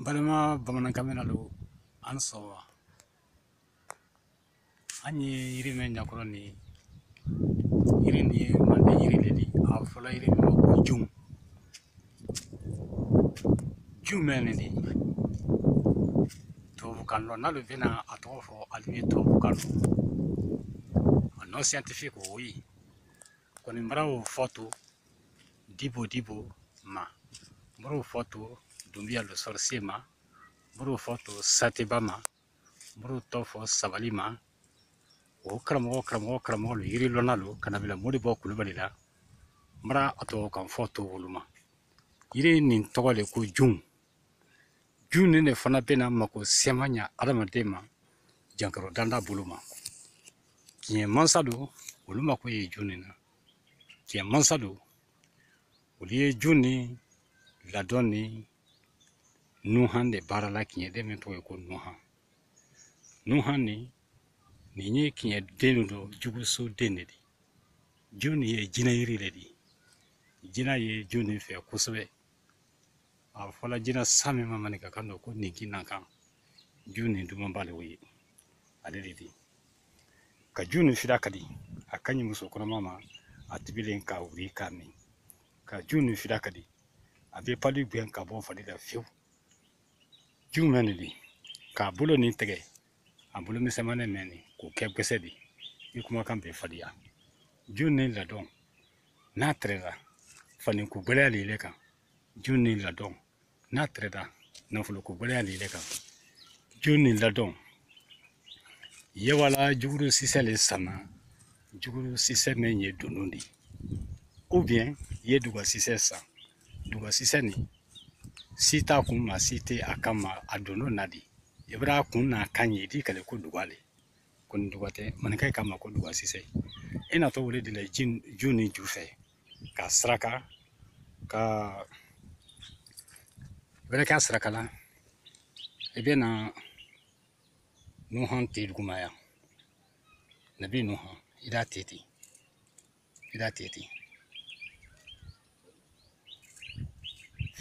balima bamanankan mɛnna lu an sɔrɔ an ye yiri mɛn ɲakɔrɔ nin yiri nin ye manden yiri le di a fɔla yiri nin ma ko jun jun mɛn nin di tubabukan dɔ n'alu bɛna a tɔgɔ fɔ alu ye tubabukan dɔ a nom scientifique o ye kɔni n b'o fɔ to dibo dibo ma n b'o fɔ to dunbiya le sorcier ma n b'o fɔ to sateba ma n b'o tɔ fɔ sabali ma o karamɔgɔ karamɔgɔ karamɔgɔ don yiri lɔnna don ka na bila modibɔ kulubali la n bara a tubabukan fɔ to olu ma yiri nin tɔgɔ le ko jun jun nin le fana bɛna mako siyaman ɲa adamaden ma jankaro danda bolo ma kiɲɛ mansa don olu mako ye jun nin na kiɲɛ mansa don olu ye jun nin ladon ni nuhan di baara la kiɲɛ den min tɔgɔ ye ko nuhan nuhan ni nin ye kiɲɛ den de don juguso den ne di jun nin ye jina yiri le di jina ye jun nin fɛ kosɛbɛ a fɔla jina sa min ma maninkakan dɔ ko ninkinankan jun nin duman ba le o ye ale le di ka jun nin fira kadi a ka ɲi muso kɔnɔma ma a tibilen ka wuli k'a min ka jun nin fira kadi a bɛ palu gɛn ka bɔ fari la fewu jun mɛn nin di k'a bolo nin tɛgɛ a bolo misɛnmanin mɛn nin k'o kɛ gɛsɛ di i kumakan bɛ fariya jun nin ladon n'a tɛrɛda fani ko gɛlɛya le ile kan jun nin ladon n'a tɛrɛda nafolo ko gɛlɛya le ile kan jun nin ladon i ye wala juguru sisɛ le sanna juguru sisɛ mɛn ye dondon di ou bien ye duga sisɛ san duga sisɛ nin si t'a kun ma si tɛ a kan ma a dondon na di i bara kun n'a kan ye i d'i kali ko duga le kɔni duga tɛ maninka ye k'a ma ko duga sisɛ i natɔ o le di la jun nin ju fɛ ka saraka ka bɛrɛ kɛ a saraka la i bɛ na nuhan te duguma yan nabi nuhan i d'a te ten i d'a te ten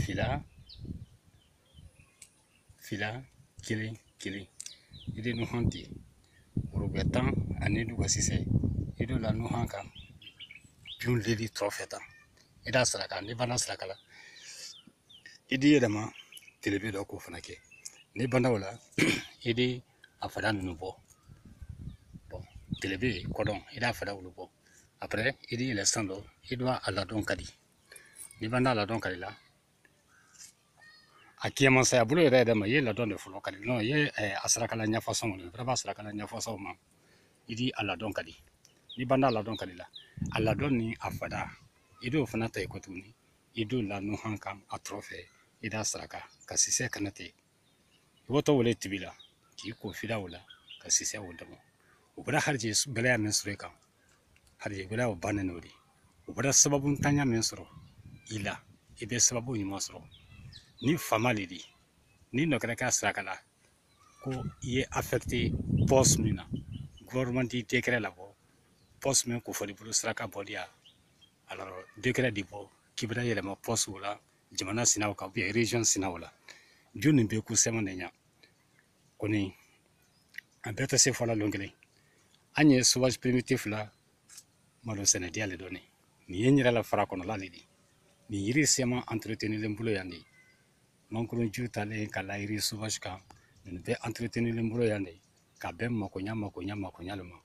fila fila kelen kelen i di nuhan te woro gbɛ tan ani duga sisɛ i d'o la nuhan kan jun lili tɔrɔfɛ tan i d'a saraka n'i banda saraka la i di yɛlɛma telebe dɔ k'o fana kɛ n'i banda o la i di a fara ninnu bɔ tele bɛ yen kɔdɔn i n'a fara olu bɔ après i ni yɛlɛ san dɔ i b'a a ladɔn ka di n'i b'a n'a ladɔn ka di la a kiyɛmansaya bolo yɛrɛ yɛrɛ ma i ye ladɔn de fɔlɔ ka di nɔn i ye a sarakala ɲɛfɔsɔn kɔni fɛrɛ b'a sarakala ɲɛfɔsɔn ma i di a ladɔn ka di n'i b'a n'a ladɔn ka di la a ladɔn ni a fada i b'o fana ta i kɔ tuguni i don la nɔhan kan a tɔrɔ fɛ i d'a saraka ka sisɛ kana ten i b'o tɔgɔ wele tibi la k'i ko fida o la ka sisɛ o dama o bɛɛ harijɛɛ gɛlɛya min sɔrɔ i kan harijɛɛ gɛlɛya o bannen o de o bɛɛ sababu ntanya min sɔrɔ i la i bɛ sababu ɲuman sɔrɔ ni fama de di ni nɔkɛra k'a saraka la ko i ye affecté poste min na gouvernement t'i décret labɔ poste min kofɔli bolo saraka bɔli a décret de bɔ k'i bɛna yɛlɛma poste o la jamana sinaw kan ou bien région sinaw la jo nin be ko sɛmɛ de ɲa kɔni a bɛɛ tɛ se fɔla lon kelen an ye sauvage primitif la malo sɛnɛ diya le dɔɔni nin ye n yɛrɛ la fara kɔnɔla le di nin yiri sɛma entretenilen bolo yan de mankurun ju talen ka la yiri sauvage kan nin bɛɛ entretenilen bolo yan de ka bɛn makoɲa makoɲa makoɲa le ma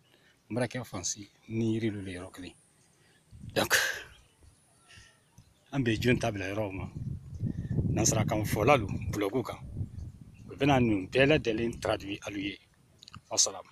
n baarakɛ fansi ni yiri lu le yɔrɔ kelen donc an bɛ jun ta bila yɔrɔw ma nanzarakan fɔlalu blog kan u bɛna nin bɛɛ lajɛlen traduire alu ye wasalamu